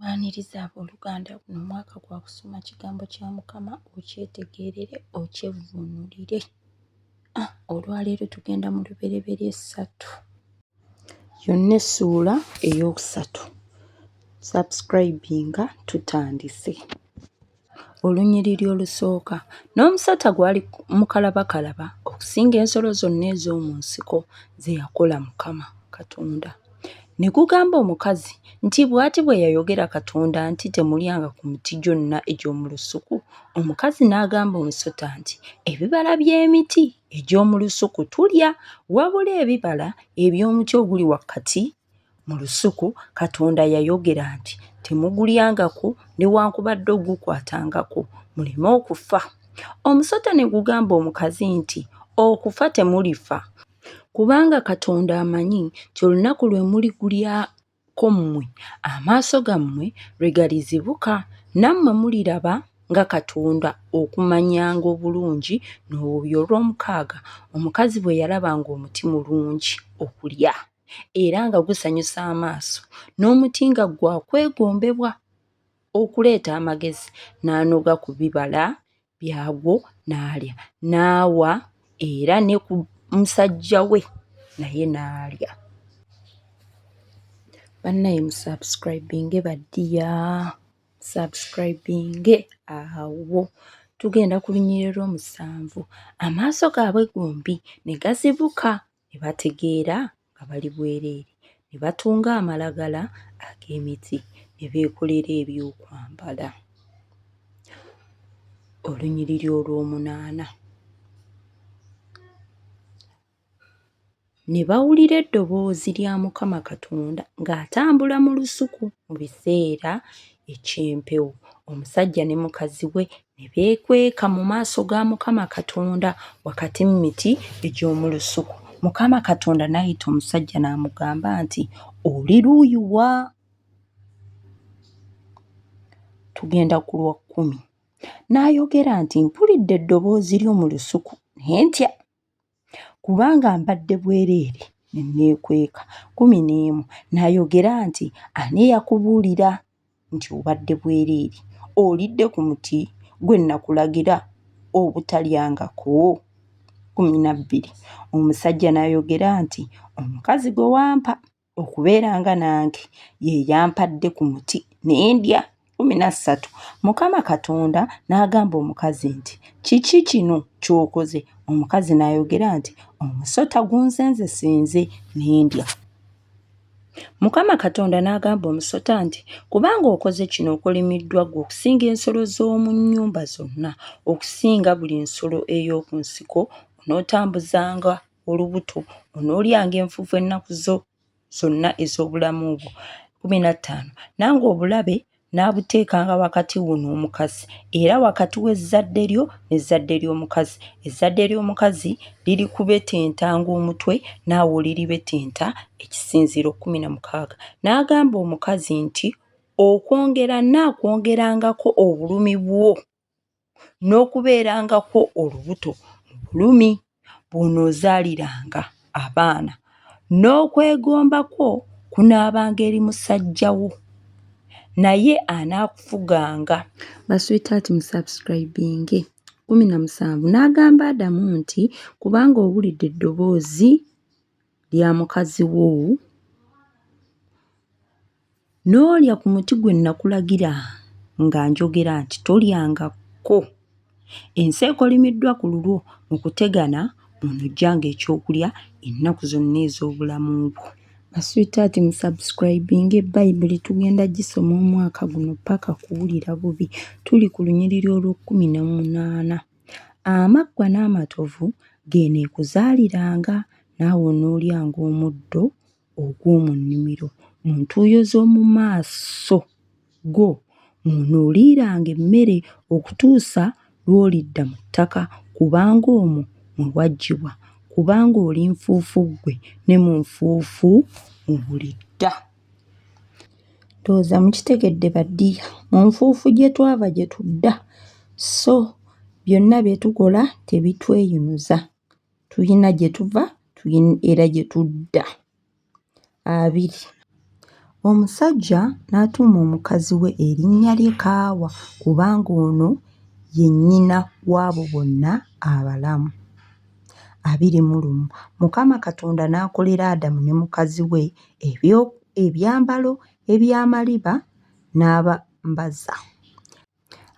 Waniriza abooluganda guno mwaka gwa kusoma kigambo kya Mukama okyetegeerere okyevvuunulire. Ah, olwaleero tugenda mu lubereberye essatu yonna essuula ey'okusatu. Subscribinga tutandise. Olunyiriri olusooka, n'omusota gwali mukalabakalaba okusinga ensolo zonna ez'omu nsiko ze yakola Mukama Katonda. Ne gugamba omukazi nti, Bw'ati bwe yayogera Katonda nti, Temulyanga ku miti gyonna egy'omu lusuku. Omukazi n'agamba omusota nti, Ebibala by'emiti egy'omu lusuku tulya, wabula ebibala eby'omuti oguli wakati Mu lusuku Katonda yayogera nti, Temugulyangako newankubadde ogukwatangako, muleme okufa. Omusota ne gugamba omukazi nti, Okufa temulifa, kubanga Katonda amanyi nti olunaku lwe muligulyako mmwe amaaso gammwe lwe galizibuka, nammwe muliraba nga Katonda okumanyanga obulungi n'obubi. Olwomukaaga omukazi bwe yalaba ng'omuti mulungi okulya. era nga gusanyusa amaaso n'omuti nga gwa kwegombebwa okuleeta amagezi n'anoga ku bibala byagwo n'alya n'awa era ne ku musajja we naye n'alya bannaye musubscribinge baddiya subscribinge awo tugenda ku lunyiriro lw'omusanvu amaaso gaabwe gombi ne gazibuka ne bategeera nga bali bwereere ne batunga amalagala ag'emiti ne beekolera ebyokwambala. Olunyiriri olwomunaana. Ne bawulira eddoboozi lya Mukama Katonda ng'atambula mu lusuku mu biseera eky'empewo. Omusajja ne mukazi we ne beekweka mu maaso ga Mukama Katonda wakati mu miti egy'omu lusuku. Mukama Katonda n'ayita omusajja n'amugamba nti, Oli luuyi wa? Tugenda ku lwa kkumi. N'ayogera nti, Mpulidde eddoboozi lyo mu lusuku ne ntya. Kubanga mbadde bwereere ne nneekweka. Kkumi n'emu, N'ayogera nti, Ani eyakubuulira nti obadde bwereere? Olidde ku muti gwe nnakulagira obutalyangako? Kkumi na bbiri, Omusajja n'ayogera nti, Omukazi gwe wampa. okubeera nga nange ye yampadde ku muti ne ndya kkumi na ssatu mukama katonda n'agamba omukazi nti kiki kino ky'okoze omukazi n'ayogera nti omusota gunzenze sinze ne ndya mukama katonda n'agamba omusota nti kubanga okoze kino okolimiddwa gwe okusinga ensolo z'omu nnyumba zonna okusinga buli nsolo ey'oku nsiko onootambuzanga olubuto, onoolyanga enfuufu ennaku zo zonna ez'obulamu bwo. Kkumi na ttaano, nange obulabe n'abuteekanga wakati wo n'omukazi, era wakati w'ezzadde lyo n'ezzadde ly'omukazi. Ezzadde ly'omukazi lirikubetentanga omutwe, naawe oliribetenta ekisinziiro. Kkumi na mukaaga, n'agamba omukazi nti, Okwongera nnaakwongerangako obulumi bwo. n'okubeerangako olubuto mu bulumi bw'onoozaaliranga abaana, n'okwegomba kwo kunaabanga eri musajja wo, naye anaakufuganga. Ba sweetheart mu subscribinge. Kumi na musanvu n'agamba Adamu nti, Kubanga owulidde eddoboozi. lya mukazi wo n'olya ku muti gwe nakulagira nga njogera nti tolyangako ensi ekolimiddwa ku lulwo mu kutegana onojjanga ekyokulya ennaku zonna ez'obulamu bwo baswitaati musubscribinge bayibuli tugenda gisoma omwaka guno paka kuwulira bubi tuli ku lunyiriri olw'okkumi n'omunaana Amaggwa n'amatovu geeneekuzaaliranga, naawe onoolyanga omuddo ogw'omu nnimiro. Mu ntuuyo z'omu maaso go mw'onooliiranga emmere okutuusa lw'olidda mu ttaka, kubanga omwo mwe waggyibwa, kubanga oli nfuufu ggwe, ne mu nfuufu mw'olidda. Ndowooza mukitegedde ba ddiya. Mu nfuufu gye twava gye tudda, sso byonna bye tukola tebitweyinuza. Tulina gye tuva era gye tudda. Abiri, omusajja n'atuuma omukazi we erinnya lye Kaawa kubanga ono ye nnyina w'abo bonna abalamu. abiri mu lumu mukama katonda n'akolera adamu ne mukazi we ebyambalo eby'amaliba n'abambaza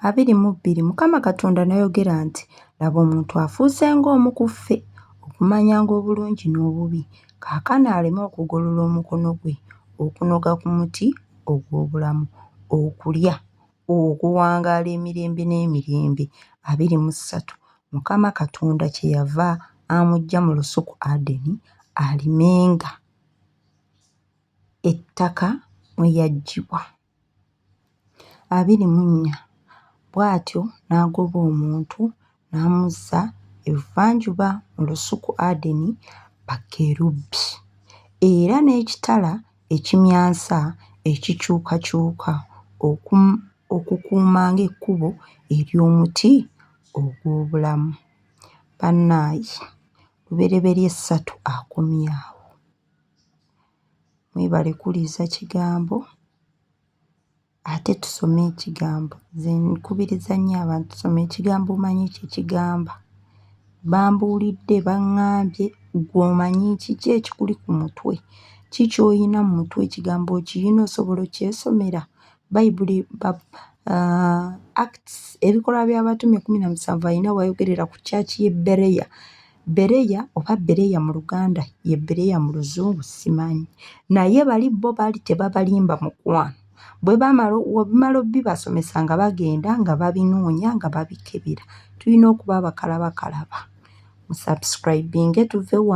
abiri mu bbiri mukama katonda n'ayogera nti laba omuntu afuuse ng'omu ku ffe okumanyanga obulungi n'obubi kaakano aleme okugolola omukono gwe okunoga ku muti ogw'obulamu okulya okuwangaala emirembe n'emirembe. abiri mu ssatu, Mukama Katonda kye yava amuggya mu lusuku Adeni alimenga ettaka mwe yaggyibwa. abiri mu nnya, Bw'atyo n'agoba omuntu n'amuzza ebuvanjuba mu lusuku Adeni bakerubi, era n'ekitala ekimyansa ekikyukakyuka okukuumanga ekkubo ery'omuti ogw'obulamu. Bannaaye Lubereberye ssatu akomye awo. Mwebale kuwuliriza kigambo. Ate tusome ekigambo. Nze nkubiriza nnyo abantu tusome ekigambo omanyi kye kigamba. Bambuulidde, baŋŋambye, ggwe omanyi kiki ekikuli ku mutwe? Ki ky'olina mu mutwe ekigambo okiyina osobola okyesomera? Bayibuli uh, Acts ebikolwa by'abatume kumi na musanvu alina wayogerera ku kyaki y'e Bereya Bereya oba Bereya mu Luganda ye Bereya mu Luzungu simanyi, naye bali bo baali tebabalimba mukwano. Bwe bamala obimala obibasomesa nga bagenda nga babinoonya nga babikebera. Tulina okuba abakalabakalaba. Musubscribinge tuve wano.